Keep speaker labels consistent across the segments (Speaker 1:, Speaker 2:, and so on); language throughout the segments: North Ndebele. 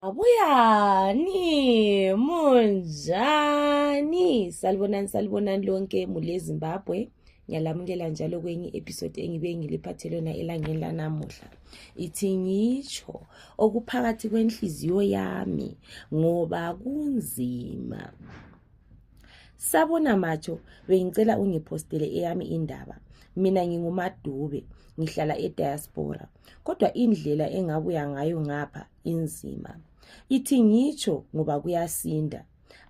Speaker 1: Abuyani, munjani? Salibonani, salibonani lonke mule Zimbabwe. Ngiyalamukela njalo kwenye episode engibe ngiliphathe lona elangeni lanamuhla. Ithi ngitsho okuphakathi kwenhliziyo yami ngoba kunzima. Sabona macho bengicela ungipostele eyami indaba. Mina ngingumadube, ngihlala e diaspora. Kodwa indlela engabuya ngayo ngapha inzima ithi ngitsho ngoba kuyasinda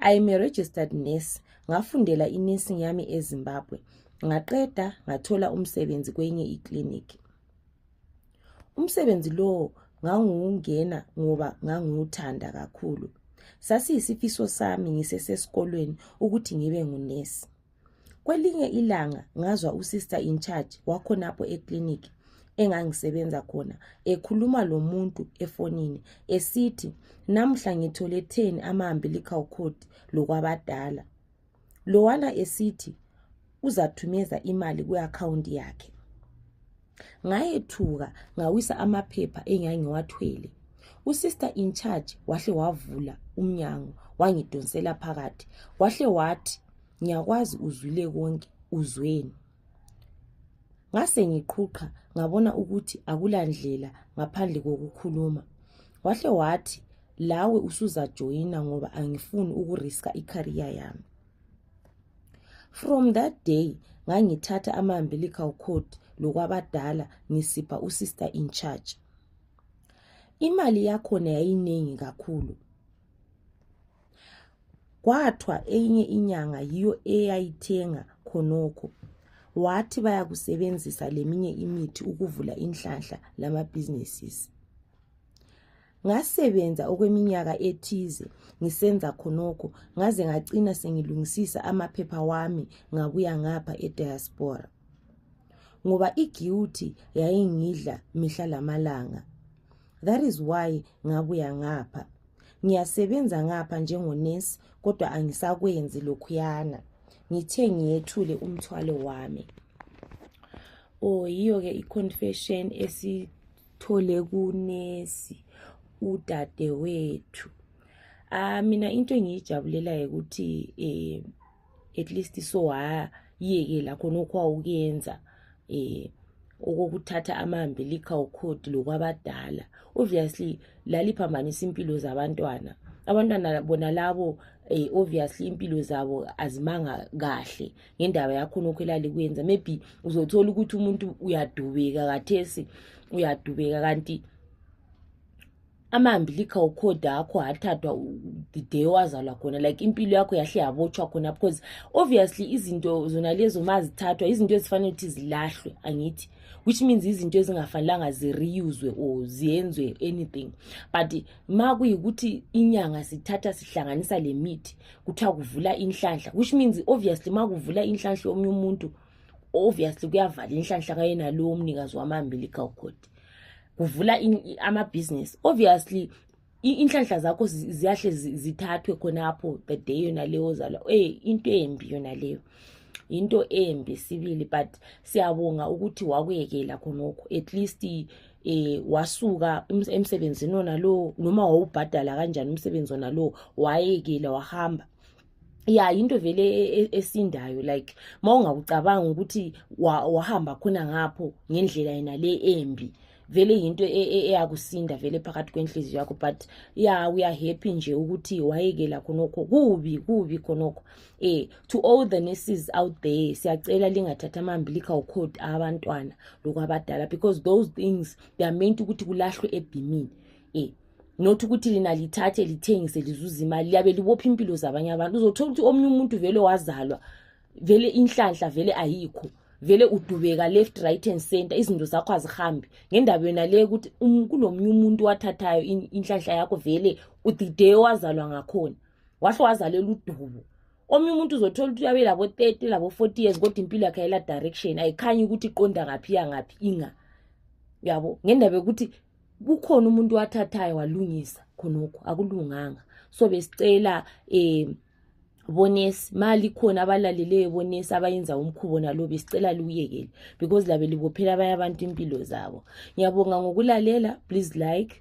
Speaker 1: i am a registered nurse ngafundela inursing yami ezimbabwe ngaqeda ngathola umsebenzi kwenye iclinic umsebenzi lowo ngangiwungena ngoba ngangiwuthanda kakhulu sasiyisifiso sami ngisesesikolweni ukuthi ngibe ngunesi Kwelinye ilanga ngazwa usister in charge wakhonapho eclinic engangisebenza khona ekhuluma lomuntu efonini esithi namuhla ngithole 10 ama-umbilical cord lokwabadala lowana esithi uzathumeza imali kwi-akhawunti yakhe ngayethuka ngawisa amaphepha engangiwathwele usister in charge wahle wavula umnyango wangidonsela phakathi wahle wathi ngiyakwazi uzwile konke uzweni ngase ngiqhuqha ngabona ukuthi akulandlela ngaphandle kokukhuluma wahle wathi lawe usuzajoyina ngoba angifuni ukuriska ikhariya yami from that day ngangithatha ama-umbilical cord lokwabadala ngisipha usister in charge imali yakhona yayiningi kakhulu kwathwa enye inyanga yiyo eyayithenga khonokho wathi bayakusebenzisa leminye imithi ukuvula inhlanhla lama businesses Ngasebenza okweminyaka ethize ngisenza khonokho ngaze ngacina sengilungisisa amaphepha wami ngabuya ngapha ediaspora ngoba iguilty yayingidla mihla lamalanga that is why ngabuya ngapha ngiyasebenza ngapha njengonesi kodwa angisakwenzi lokhuyana ngithe ngiyethule umthwalo wami o oh, yiyo-ke i-confession esi thole kunesi udadewethu ah mina into engiyijabulelayo ukuthi eh at least so wayekela khona okwawukuyenza eh okokuthatha amambilika ukhodi lokwabadala obviously laliphambanisa impilo zabantwana abantwana bona labo eh, obviously impilo zabo azimanga kahle ngendaba yakhonokho elalikwenza maybe uzothola ukuthi umuntu uyadubeka kathesi uyadubeka kanti amambilika okhoda akho athathwa the day wazalwa khona like impilo yakho yahle yabotshwa khona because obviously izinto zona lezo ma zithathwa izinto ezifanele ukuthi zilahlwe angithi which means izinto ezingafanelanga zireuswe or ziyenzwe anything but ma kuyikuthi inyanga sithatha sihlanganisa le mithi kuthiwa kuvula inhlanhla which means obviously ma kuvula inhlanhla yomunye umuntu obviously kuyavala inhlanhla kayena lowo mnikazi wama-umbilical cord kuvula amabhizinesi obviously inhlanhla zakho ziyahle zithathwe khonapho the day yona leyo ozalwa ey into embi yona leyo yinto embi sibili but siyabonga ukuthi wakuyekela khonokho at least eh wasuka emsebenzini wona lowo noma wawubhadala kanjani umsebenzi wona lowo wayekela wahamba ya yinto vele e, e, esindayo like mawungakucabanga ukuthi wahamba khona ngapho ngendlela yena le embi vele yinto e, eyakusinda vele phakathi kwenhliziyo yakho but ya uyahappy nje ukuthi wayekela khonokho kubi kubi khonokho eh to all the nurses out there siyacela lingathatha amambilical code abantwana lokwabadala because those things they are meant ukuthi kulahlwe ebhimini eh not ukuthi lina lithathe lithengise lizuza imali liyabe libopha impilo zabanye abantu uzothola ukuthi omunye umuntu vele wazalwa vele inhlanhla vele ayikho vele udubeka left right and center izinto zakho azihambi ngendaba yona le ukuthi um, kulo munye umuntu wathathayo inhlanhla yakho vele the day owazalwa ngakhona wahle wazalela udubo omunye umuntu uzothola ukuthi uyabe labo-thirty labo-forty years kodwa impilo yakhe ayela direction ayikhanyi ukuthi iqonda ngaphi yangaphi inga yabo ngendaba yokuthi kukhona umuntu wathathayo walungisa khonokho akulunganga so besicela um bonesi mali khona abalaleleyo bonesi abayenza umkhubo nalo besicela liwuyekele because labe libophela abanye abantu impilo zabo ngiyabonga ngokulalela please like